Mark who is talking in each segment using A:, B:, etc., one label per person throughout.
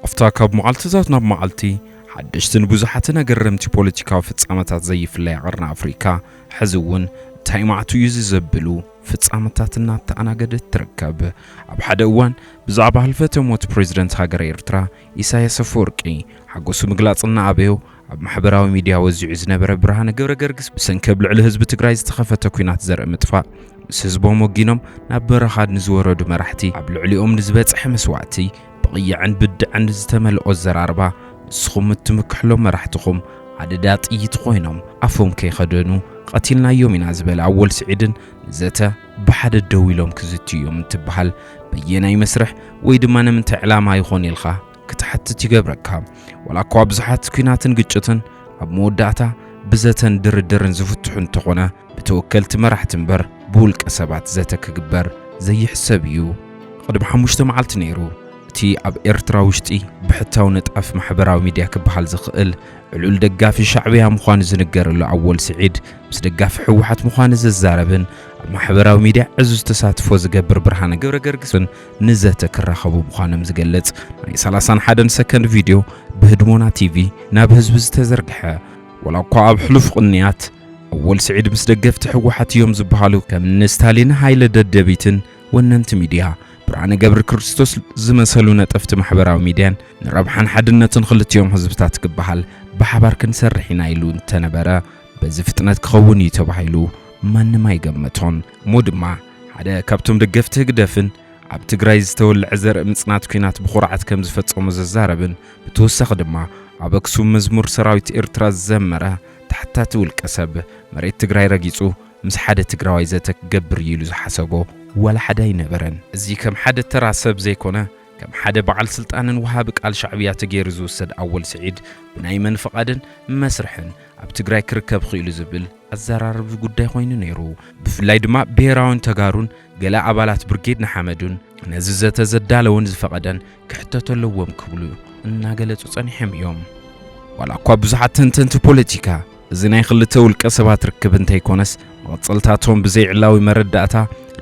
A: ኣብታ ካብ መዓልትታት ናብ መዓልቲ ሓደሽትን ብዙሓትን ኣገረምቲ ፖለቲካዊ ፍጻመታት ዘይፍለያ ቐርኒ ኣፍሪካ ሕዚ እውን እንታይ ማዕቱ እዩ እዚ ዘብሉ ፍጻመታት እናተኣናገደት ትርከብ። ኣብ ሓደ እዋን ብዛዕባ ህልፈተ ሞት ፕሬዝደንት ሃገረ ኤርትራ ኢሳያስ ኣፈወርቂ ሓጎሱ ምግላጽ እናኣበዮ ኣብ ማሕበራዊ ሚድያ ወዚዑ ዝነበረ ብርሃነ ገብረገርግስ ብሰንኪ ኣብ ልዕሊ ህዝቢ ትግራይ ዝተኸፈተ ኲናት ዘርኢ ምጥፋእ ምስ ህዝቦም ወጊኖም ናብ በረኻ ንዝወረዱ መራሕቲ ኣብ ልዕሊኦም ንዝበጽሐ መስዋእቲ ብቕያዕን ብድዐን ዝተመልኦ ኣዘራርባ ንስኹም እትምክሕሎም መራሕትኹም ኣደዳ ጥይት ኾይኖም ኣፎም ከይኸደኑ ቐቲልናዮም ኢና ዝበለ ኣወል ስዒድን ንዘተ ብሓደ ደው ኢሎም ክዝትዩ እዮም እንትበሃል በየናይ መስርሕ ወይ ድማ ንምንታይ ዕላማ ይኾን ኢልኻ ክትሓትት ይገብረካ። ዋላ እኳ ብዙሓት ኲናትን ግጭትን ኣብ መወዳእታ ብዘተን ድርድርን ዝፍትሑ እንተኾነ ብተወከልቲ መራሕቲ እምበር ብውልቀ ሰባት ዘተ ክግበር ዘይሕሰብ እዩ። ቅድሚ ሓሙሽተ መዓልቲ ነይሩ እቲ ኣብ ኤርትራ ውሽጢ ብሕታዊ ንጣፍ ማሕበራዊ ሚድያ ክበሃል ዝኽእል ዕሉል ደጋፊ ሻዕብያ ምዃኑ ዝንገረሉ ኣወል ስዒድ ምስ ደጋፊ ህወሓት ምዃኑ ዝዛረብን ኣብ ማሕበራዊ ሚድያ ዕዙዝ ተሳትፎ ዝገብር ብርሃነ ገብረገርግስን ንዘተ ክራኸቡ ምዃኖም ዝገልጽ ናይ ሰላሳን ሓደን ሰከንድ ቪድዮ ብህድሞና ቲቪ ናብ ህዝቢ ዝተዘርግሐ ወላ እኳ ኣብ ሕሉፍ ቕንያት ኣወል ስዒድ ምስ ደገፍቲ ህወሓት እዮም ዝበሃሉ ከም እኒ ስታሊን ሃይለ ደደቢትን ወነንቲ ሚድያ ብርሃነ ገብረ ክርስቶስ ዝመሰሉ ነጠፍቲ ማሕበራዊ ሚድያን ንረብሓን ሓድነትን ክልቲኦም ህዝብታት ክበሃል ብሓባር ክንሰርሕ ኢና ኢሉ እንተነበረ በዚ ፍጥነት ክኸውን እዩ ተባሂሉ ማንም ኣይገመቶን። እሞ ድማ ሓደ ካብቶም ደገፍቲ ህግደፍን ኣብ ትግራይ ዝተወልዐ ዘርኢ ምጽናት ኲናት ብኹርዓት ከም ዝፈጸሞ ዘዛረብን ብተወሳኺ ድማ ኣብ ኣክሱም መዝሙር ሰራዊት ኤርትራ ዝዘመረ ተሓታቲ ውልቀ ሰብ መሬት ትግራይ ረጊጹ ምስ ሓደ ትግራዋይ ዘተ ክገብር እዩ ኢሉ ዝሓሰቦ ዋላ ሓደ ኣይነበረን። እዚ ከም ሓደ ተራ ሰብ ዘይኮነ ከም ሓደ በዓል ስልጣንን ወሃቢ ቃል ሻዕብያ ተገይሩ ዝውሰድ ኣወል ስዒድ ብናይ መን ፍቓድን መስርሕን ኣብ ትግራይ ክርከብ ኽኢሉ ዝብል ኣዘራርቢ ጉዳይ ኾይኑ ነይሩ። ብፍላይ ድማ ብሄራውን ተጋሩን ገለ ኣባላት ብርጌድ ንሓመዱን ነዚ ዘተ ዘዳለወን ዝፈቐደን ክሕተቱ ኣለዎም ክብሉ እናገለፁ ፀኒሖም እዮም። ዋላ እኳ ብዙሓት ተንተንቲ ፖለቲካ እዚ ናይ ኽልተ ውልቀ ሰባት ርክብ እንተይኮነስ መቐፀልታቶም ብዘይዕላዊ መረዳእታ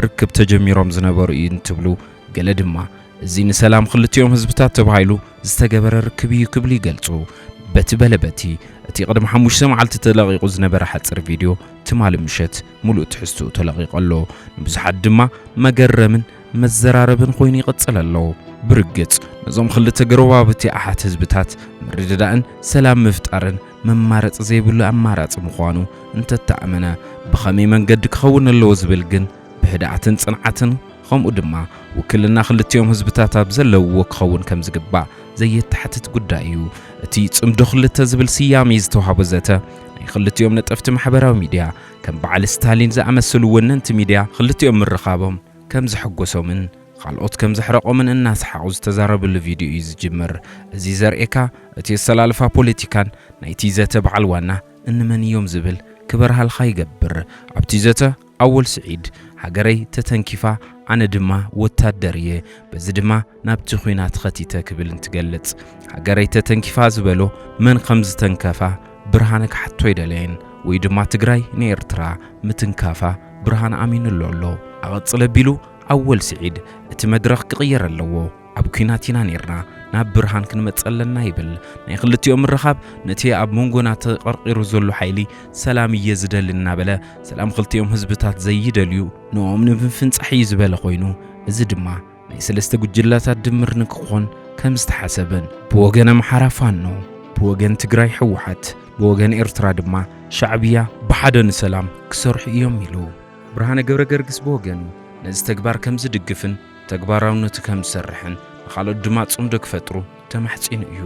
A: ርክብ ተጀሚሮም ዝነበሩ እዩ እንትብሉ ገለ ድማ እዚ ንሰላም ክልቲኦም ህዝብታት ተባሂሉ ዝተገበረ ርክብ እዩ ክብሉ ይገልጹ። በቲ በለ በቲ፣ እቲ ቅድሚ ሓሙሽተ መዓልቲ ተለቒቑ ዝነበረ ሓጺር ቪድዮ ትማሊ ምሸት ምሉእ ትሕዝትኡ ተለቒቑ ኣሎ። ንብዙሓት ድማ መገረምን መዘራረብን ኮይኑ ይቕጽል ኣሎ። ብርግጽ ነዞም ክልተ ጎረባብቲ ኣሓት ህዝብታት ምርድዳእን ሰላም ምፍጣርን መማረጺ ዘይብሉ ኣማራጺ ምዃኑ እንተተኣመነ፣ ብኸመይ መንገዲ ክኸውን ኣለዎ ዝብል ግን ብህድኣትን ጽንዓትን ኸምኡ ድማ ውክልና ክልቲኦም ህዝብታት ኣብ ዘለውዎ ክኸውን ከም ዝግባእ ዘየተሓትት ጉዳይ እዩ። እቲ ጽምዶ ክልተ ዝብል ስያሜ ዝተዋህቦ ዘተ፣ ናይ ክልቲኦም ነጠፍቲ ማሕበራዊ ሚድያ፣ ከም በዓል ስታሊን ዝኣመሰሉ ወነንቲ ሚድያ ክልቲኦም ምርኻቦም ከም ዘሐጎሶምን ኻልኦት ከም ዘሕረቆምን እናሰሓቑ ዝተዛረብሉ ቪድዮ እዩ ዝጅምር። እዚ ዘርእየካ እቲ ኣሰላልፋ ፖለቲካን ናይቲ ዘተ በዓል ዋና እንመን እዮም ዝብል ክበርሃልኻ ይገብር። ኣብቲ ዘተ። ኣወል ስዒድ፣ ሃገረይ ተተንኪፋ ኣነ ድማ ወታደር እየ፣ በዚ ድማ ናብቲ ኲናት ኸቲተ ክብል እንትገልጽ፣ ሃገረይ ተተንኪፋ ዝበሎ መን ኸም ዝተንከፋ ብርሃነ ክሓቶ ኣይደለየን ወይ ድማ ትግራይ ንኤርትራ ምትንካፋ ብርሃነ ኣሚንሉ ኣሎ። ኣቐጽል ኣቢሉ ኣወል ስዒድ፣ እቲ መድረኽ ክቕየር ኣለዎ። ኣብ ኲናት ኢና ኔርና ናብ ብርሃን ክንመጽእ ኣለና ይብል። ናይ ክልቲኦም ምርኻብ ነቲ ኣብ መንጎና ተቐርቒሩ ዘሎ ሓይሊ ሰላም እየ ዝደሊ እናበለ ሰላም ክልቲኦም ህዝብታት ዘይደልዩ ንኦም ንምፍንጻሕ እዩ ዝበለ ኮይኑ እዚ ድማ ናይ ሰለስተ ጉጅላታት ድምር ንክኾን ከም ዝተሓሰበን ብወገን ኣምሓራ ፋኖ ብወገን ትግራይ ሕወሓት ብወገን ኤርትራ ድማ ሻዕብያ ብሓደ ንሰላም ክሰርሑ እዮም ኢሉ። ብርሃነ ገብረገርግስ ብወገኑ ነዚ ተግባር ከም ዝድግፍን ተግባራውነቱ ከም ዝሰርሕን ንኻልኦት ድማ ጽምዶ ክፈጥሩ ተማሕጺኑ እዩ።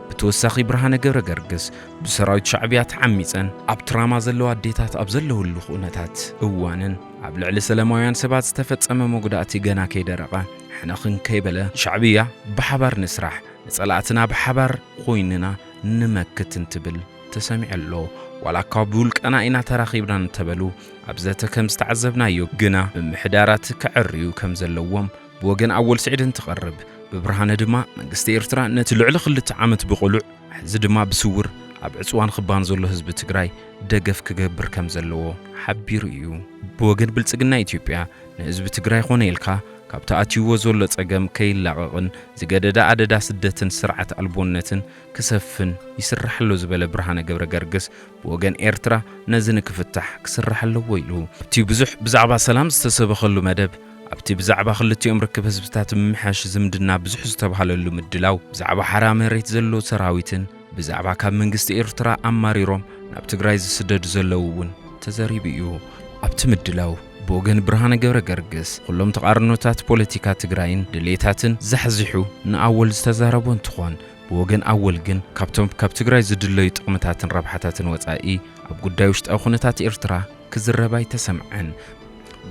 A: ብተወሳኺ ብርሃነ ገብረገርግስ ብሰራዊት ሻዕብያ ተዓሚጸን ኣብ ትራማ ዘለዋ ኣዴታት ኣብ ዘለውሉ ክኡነታት እዋንን ኣብ ልዕሊ ሰለማውያን ሰባት ዝተፈጸመ መጉዳእቲ ገና ከይደረቐ ሕንኽን ከይበለ ሻዕብያ ብሓባር ንስራሕ ንጸላእትና ብሓባር ኮይንና ንመክት እንትብል ተሰሚዑ ኣሎ። ዋላኳ ብውልቀና ኢና ተራኺብና እንተበሉ ኣብ ዘተ ከም ዝተዓዘብናዮ ግና ምምሕዳራት ከዐርዩ ከም ዘለዎም ብወገን ኣወል ስዒድ እንትቐርብ ብብርሃነ ድማ መንግስቲ ኤርትራ ነቲ ልዕሊ ክልተ ዓመት ብቕሉዕ ሕዚ ድማ ብስውር ኣብ ዕጽዋ ንክባን ዘሎ ህዝቢ ትግራይ ደገፍ ክገብር ከም ዘለዎ ሓቢሩ እዩ። ብወገን ብልጽግና ኢትዮጵያ ንህዝቢ ትግራይ ኮነ ኢልካ ካብቲ ኣትዩዎ ዘሎ ጸገም ከይላቐቕን ዝገደደ ኣደዳ ስደትን ስርዓት ኣልቦነትን ክሰፍን ይስራሕ ኣሎ ዝበለ ብርሃነ ገብረገርግስ፣ ብወገን ኤርትራ ነዚ ንክፍታሕ ክስራሕ ኣለዎ ኢሉ። ኣብቲ ብዙሕ ብዛዕባ ሰላም ዝተሰበኸሉ መደብ፣ ኣብቲ ብዛዕባ ክልቲኦም ርክብ ህዝብታት ምምሕያሽ ዝምድና ብዙሕ ዝተብሃለሉ ምድላው፣ ብዛዕባ ሓራ መሬት ዘሎ ሰራዊትን ብዛዕባ ካብ መንግስቲ ኤርትራ ኣማሪሮም ናብ ትግራይ ዝስደዱ ዘለዉ እውን ተዘሪቡ እዩ። ኣብቲ ምድላው፣ ብወገን ብርሃነ ገብረገርግስ፣ ኹሎም ተቓርኖታት ፖለቲካ ትግራይን ድሌታትን ዛሕዚሑ ንኣወል ዝተዛረቦ እንትኾን፣ ብወገን ኣወል ግን ካብቶም ካብ ትግራይ ዝድለዩ ጥቕምታትን ረብሓታትን ወፃኢ ኣብ ጉዳይ ውሽጣዊ ኩነታት ኤርትራ ክዝረብ ኣይተሰምዐን።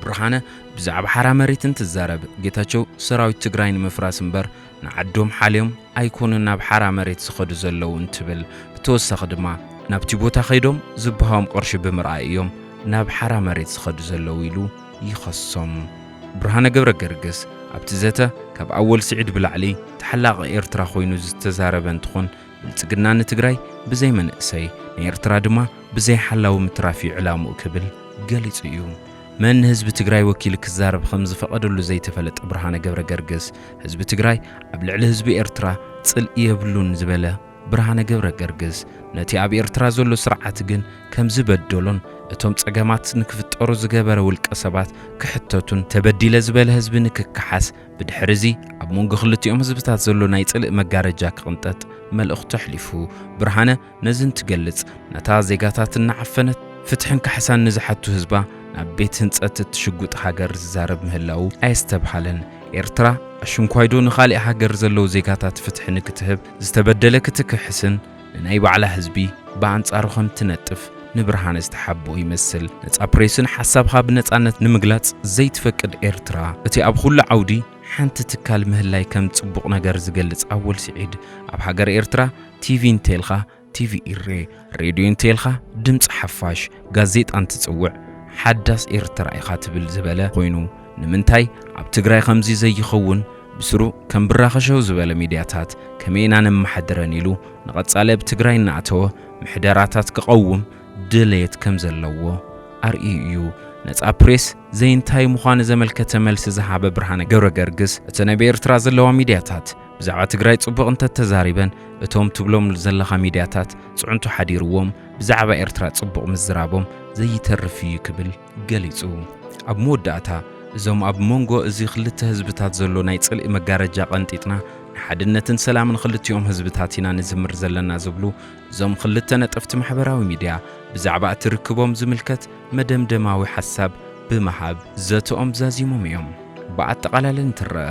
A: ብርሃነ ብዛዕባ ሓራ መሬት እንትዛረብ ጌታቸው ሰራዊት ትግራይ ንምፍራስ እምበር ንዓዶም ሓልዮም ኣይኮኑን ናብ ሓራ መሬት ዝኸዱ ዘለዉ እንትብል ብተወሳኺ ድማ ናብቲ ቦታ ከይዶም ዝበሃዎም ቕርሺ ብምርኣይ እዮም ናብ ሓራ መሬት ዝኸዱ ዘለዉ ኢሉ ይኸሶም። ብርሃነ ገብረገርግስ ኣብቲ ዘተ ካብ ኣወል ስዒድ ብላዕሊ ተሓላቒ ኤርትራ ኮይኑ ዝተዛረበ እንትኾን ብልጽግና ንትግራይ ብዘይ መንእሰይ ንኤርትራ ድማ ብዘይ ሓላዊ ምትራፍ እዩ ዕላምኡ ክብል ገሊጹ እዩ። መን ንህዝቢ ትግራይ ወኪሉ ክዛረብ ከምዝፈቐደሉ ዘይተፈለጠ ብርሃነ ገብረገርግስ ህዝቢ ትግራይ ኣብ ልዕሊ ህዝቢ ኤርትራ ጽልኢ የብሉን ዝበለ ብርሃነ ገብረገርግስ ነቲ ኣብ ኤርትራ ዘሎ ስርዓት ግን ከም ዝበደሎን እቶም ጸገማት ንክፍጠሩ ዝገበረ ውልቀ ሰባት ክሕተቱን ተበዲለ ዝበለ ህዝቢ ንክከሓስ ብድሕሪ እዚ ኣብ መንጎ ክልቲኦም ህዝብታት ዘሎ ናይ ጽልኢ መጋረጃ ክቕንጠጥ መልእኽቱ ኣሕሊፉ። ብርሃነ ነዚ እንትገልጽ ነታ ዜጋታት እናዓፈነት ፍትሕን ካሕሳን ንዝሓቱ ህዝባ ናብ ቤት ህንጸት እትሽጉጥ ሃገር ዝዛረብ ምህላዉ ኣየስተብሃለን። ኤርትራ ኣሽንኳይዶ ንኻሊእ ሃገር ዘለዉ ዜጋታት ፍትሒ ንክትህብ ዝተበደለ ክትክሕስን ንናይ ባዕላ ህዝቢ ብኣንጻሩ ከም ትነጥፍ ንብርሃነ ዝተሓብኦ ይመስል። ነጻ ፕሬስን ሓሳብኻ ብነጻነት ንምግላጽ ዘይትፈቅድ ኤርትራ፣ እቲ ኣብ ኹሉ ዓውዲ ሓንቲ ትካል ምህላይ ከም ጽቡቕ ነገር ዝገልጽ ኣወል ስዒድ፣ ኣብ ሃገረ ኤርትራ ቲቪን ቴልኻ፣ ቲቪ ኢሬ፣ ሬድዮ እንተይልካ ድምጺ ሓፋሽ፣ ጋዜጣ እንትጽውዕ ሓዳስ ኤርትራ ኢኻ ትብል ዝበለ ኮይኑ ንምንታይ ኣብ ትግራይ ከምዚ ዘይኸውን ብስሩ ከም ብራኸ ሸው ዝበለ ሚድያታት ከመይ ኢና ነማሓድረን ኢሉ ንቐጻሊ ኣብ ትግራይ እናኣተወ ምሕደራታት ክቐውም ድልየት ከም ዘለዎ ኣርእዩ እዩ። ነጻ ፕሬስ ዘይንታይ ምዃኑ ዘመልከተ መልሲ ዝሃበ ብርሃነ ገብረገርግስ እቲ ነብ ኤርትራ ዘለዋ ሚድያታት ብዛዕባ ትግራይ ጽቡቕ እንተተዛሪበን እቶም ትብሎም ዘለኻ ሚድያታት ጽዕንቶ ሓዲርዎም ብዛዕባ ኤርትራ ጽቡቕ ምዝራቦም ዘይተርፍ እዩ ክብል ገሊጹ። ኣብ መወዳእታ እዞም ኣብ ሞንጎ እዚ ክልተ ህዝብታት ዘሎ ናይ ጽልኢ መጋረጃ ቀንጢጥና ንሓድነትን ሰላምን ክልቲኦም ህዝብታት ኢና ንዝምር ዘለና ዝብሉ እዞም ክልተ ነጠፍቲ ማሕበራዊ ሚድያ ብዛዕባ እቲ ርክቦም ዝምልከት መደምደማዊ ሓሳብ ብምሃብ ዘተኦም ዛዚሞም እዮም። ብኣጠቓላሊ እንትረኣ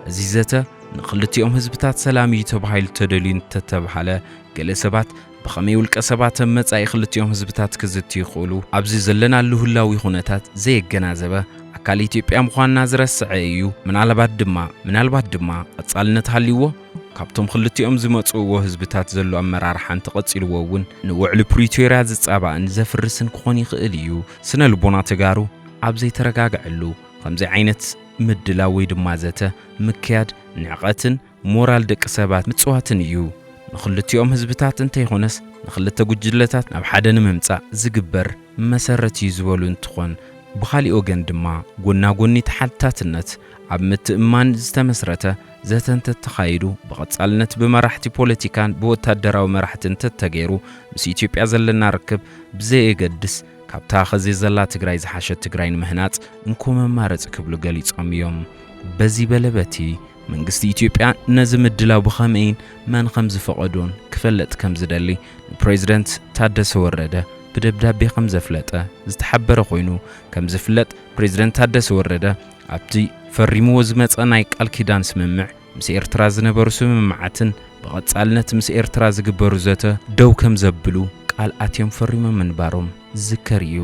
A: እዚ ዘተ ንክልቲኦም ህዝብታት ሰላም እዩ ተባሂሉ ተደልዩ እንተተብሃለ ገለ ሰባት ብኸመይ ውልቀ ሰባት ኣብ መጻኢ ክልቲኦም ህዝብታት ክዝትዩ ይኽእሉ? ኣብዚ ዘለናሉ ህላዊ ኩነታት ዘየገናዘበ ኣካል ኢትዮጵያ ምዃንና ዝረስዐ እዩ። ምናልባት ድማ ምናልባት ድማ ቐጻልነት ሃልይዎ ካብቶም ክልቲኦም ዝመጽእዎ ህዝብታት ዘሎ ኣመራርሓ እንተቐጺልዎ እውን ንውዕሊ ፕሪቶርያ ዝጻባእን ዘፍርስን ክኾን ይኽእል እዩ። ስነ ልቦና ተጋሩ ኣብ ዘይተረጋግዐሉ ከምዚ ዓይነት ምድላው ወይ ድማ ዘተ ምክያድ ንዕቐትን ሞራል ደቂ ሰባት ምጽዋትን እዩ። ንክልቲኦም ህዝብታት እንተይኾነስ ንክልተ ጉጅለታት ናብ ሓደ ንምምጻእ ዝግበር መሰረት እዩ ዝበሉ እንትኾን ብኻሊእ ወገን ድማ ጎና ጎኒ ተሓትታትነት ኣብ ምትእምማን ዝተመስረተ ዘተ እንተተኻይዱ ብቐጻልነት ብመራሕቲ ፖለቲካን ብወታደራዊ መራሕትን ተተገይሩ ምስ ኢትዮጵያ ዘለና ርክብ ብዘየገድስ ካብታ ኸዚ ዘላ ትግራይ ዝሓሸት ትግራይ ንምህናፅ እንኮ መማረፂ ክብሉ ገሊፆም እዮም። በዚ በለ በቲ መንግስቲ ኢትዮጵያ ነዚ ምድላው ብኸመይን መን ኸም ዝፈቐዶን ክፈለጥ ከም ዝደሊ ንፕሬዝደንት ታደሰ ወረደ ብደብዳቤ ኸም ዘፍለጠ ዝተሓበረ ኾይኑ ከም ዝፍለጥ ፕሬዝደንት ታደሰ ወረደ ኣብቲ ፈሪምዎ ዝመፀ ናይ ቃል ኪዳን ስምምዕ ምስ ኤርትራ ዝነበሩ ስምምዓትን ብቐጻልነት ምስ ኤርትራ ዝግበሩ ዘተ ደው ከም ዘብሉ ቃል ኣትዮም ፈሪሞም ምንባሮም ዝዝከር እዩ።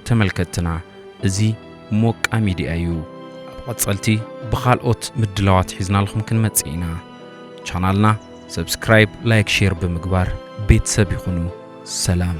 A: ተመልከትትና እዚ ሞቃ ሚድያ እዩ። ኣብ ቐጸልቲ ብኻልኦት ምድላዋት ሒዝናልኹም ክንመጽእ ኢና። ቻናልና ሰብስክራይብ ላይክ ሼር ብምግባር ቤተሰብ ይኹኑ። ሰላም።